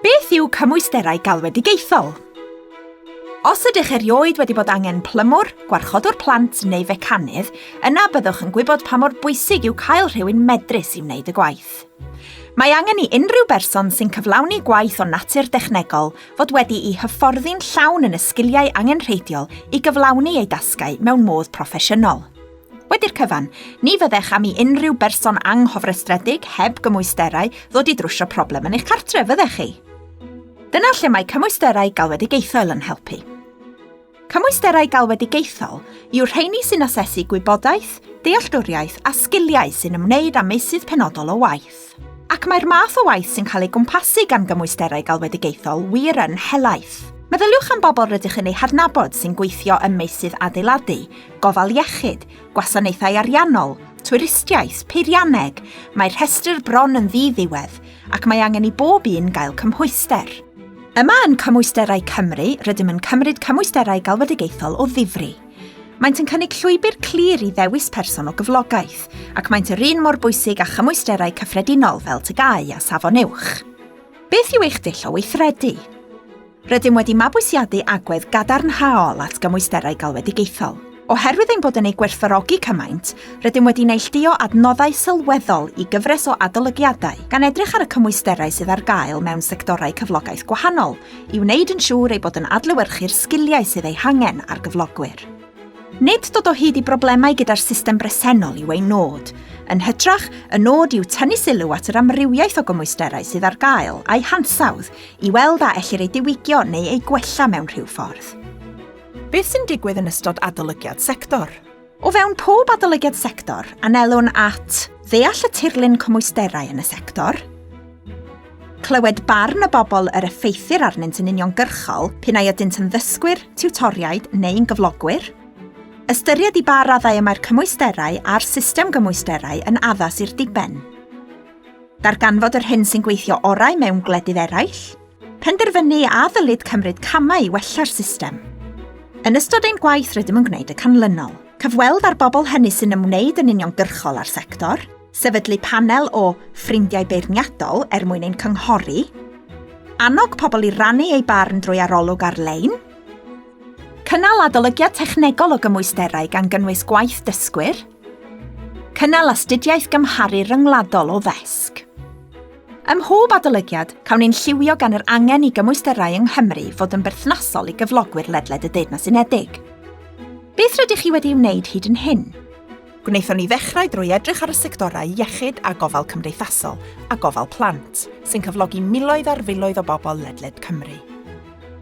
Beth yw cymwysterau galwedigaethol? Os ydych erioed wedi bod angen plymwr, gwarchodwr plant neu fecanydd, yna byddwch yn gwybod pa mor bwysig yw cael rhywun medrus i wneud y gwaith. Mae angen i unrhyw berson sy'n cyflawni gwaith o natur dechnegol fod wedi i hyfforddi'n llawn yn y sgiliau angenrheidiol i gyflawni ei dasgau mewn modd proffesiynol. Wedi'r cyfan, ni fyddech am i unrhyw berson anghofrestredig heb gymwysterau ddod i drwsio problem yn eich cartref, fyddech chi? Dyna lle mae cymwysterau galwedigaethol yn helpu. Cymwysterau galwedigaethol yw'r rheini sy'n asesu gwybodaeth, dealltwriaeth a sgiliau sy'n ymwneud â meysydd penodol o waith. Ac mae'r math o waith sy'n cael ei gwmpasu gan gymwysterau galwedigaethol wir yn helaeth. Meddyliwch am bobl rydych yn eu hadnabod sy'n gweithio ym meysydd adeiladu, gofal iechyd, gwasanaethau ariannol, twristiaeth, peirianneg, mae'r rhestr bron yn ddi-ddiwedd, ac mae angen i bob un gael cymhwyster. Yma yn Cymwysterau Cymru, rydym yn cymryd cymwysterau galwedigaethol o ddifri. Maent yn cynnig llwybr clir i ddewis person o gyflogaeth, ac maent yr un mor bwysig â chymwysterau cyffredinol fel tygau a safon uwch. Beth yw eich dull o weithredu? Rydym wedi mabwysiadu agwedd gadarnhaol at gymwysterau galwedigaethol. Oherwydd ein bod yn eu gwerthfawrogi cymaint, rydym wedi neillduo adnoddau sylweddol i gyfres o adolygiadau, gan edrych ar y cymwysterau sydd ar gael mewn sectorau cyflogaeth gwahanol, i wneud yn siŵr ei bod yn adlewyrchu'r sgiliau sydd eu hangen ar gyflogwyr. Nid dod o hyd i broblemau gyda'r system bresennol yw ein nod. Yn hytrach, y nod yw tynnu sylw at yr amrywiaeth o gymwysterau sydd ar gael a'u hansawdd i weld a ellir eu diwygio neu eu gwella mewn rhyw ffordd. Beth sy'n digwydd yn ystod adolygiad sector? O fewn pob adolygiad sector, anelwn at ddeall y tirlun cymwysterau yn y sector, clywed barn y bobl yr effeithir arnynt yn uniongyrchol p'un ai ydynt yn ddysgwyr, tiwtoriaid neu'n gyflogwyr, ystyried i ba raddau y mae'r cymwysterau a'r system gymwysterau yn addas i'r diben, darganfod yr hyn sy'n gweithio orau mewn gwledydd eraill, Penderfynu a ddylid cymryd camau i wella'r system. Yn ystod ein gwaith rydym yn gwneud y canlynol. Cyfweld â'r bobl hynny sy'n ymwneud yn uniongyrchol â'r sector, sefydlu panel o ffrindiau beirniadol er mwyn ein cynghori, annog pobl i rannu eu barn drwy arolwg ar-lein, cynnal adolygiad technegol o gymwysterau gan gynnwys gwaith dysgwyr, cynnal astudiaeth gymharu ryngwladol o ddesg. Ym mhob adolygiad, cawn ein lliwio gan yr angen i gymwysterau yng Nghymru fod yn berthnasol i gyflogwyr ledled y Deyrnas Unedig. Beth rydych chi wedi ei wneud hyd yn hyn? Gwnaethon ni ddechrau drwy edrych ar y sectorau iechyd a gofal cymdeithasol a gofal plant, sy'n cyflogi miloedd ar filoedd o bobl ledled Cymru.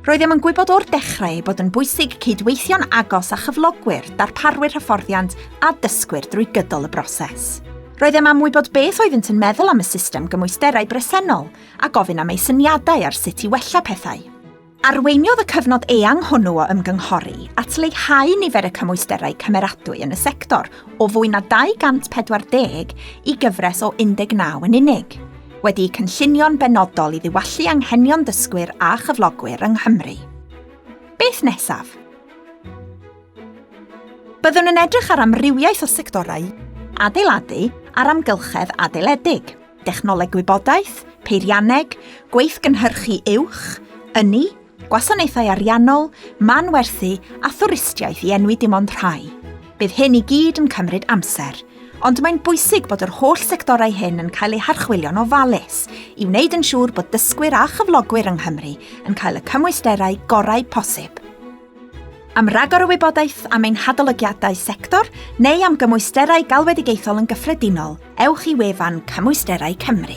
Roeddem yn gwybod o'r dechrau ei bod yn bwysig cydweithio'n agos â chyflogwyr, darparwyr hyfforddiant a dysgwyr drwy gydol y broses. Roeddem am wybod beth oeddynt yn meddwl am y system gymwysterau bresennol a gofyn am eu syniadau ar sut i wella pethau. Arweiniodd y cyfnod eang hwnnw o ymgynghori at leihau nifer y cymwysterau cymeradwy yn y sector o fwy na 240 i gyfres o 19 yn unig, wedi'u cynllunio'n benodol i ddiwallu anghenion dysgwyr a chyflogwyr yng Nghymru. Beth nesaf? Byddwn yn edrych ar amrywiaeth o sectorau, adeiladu a'r amgylchedd adeiledig, dechnoleg gwybodaeth, peirianneg, gweithgynhyrchu uwch, ynni, Gwasanaethau ariannol, manwerthu a thwristiaeth i enwi dim ond rhai. Bydd hyn i gyd yn cymryd amser, ond mae'n bwysig bod yr holl sectorau hyn yn cael eu harchwilio'n ofalus i wneud yn siŵr bod dysgwyr a chyflogwyr yng Nghymru yn cael y cymwysterau gorau posib. Am ragor o wybodaeth am ein hadolygiadau sector neu am gymwysterau galwedigaethol yn gyffredinol, ewch i wefan Cymwysterau Cymru.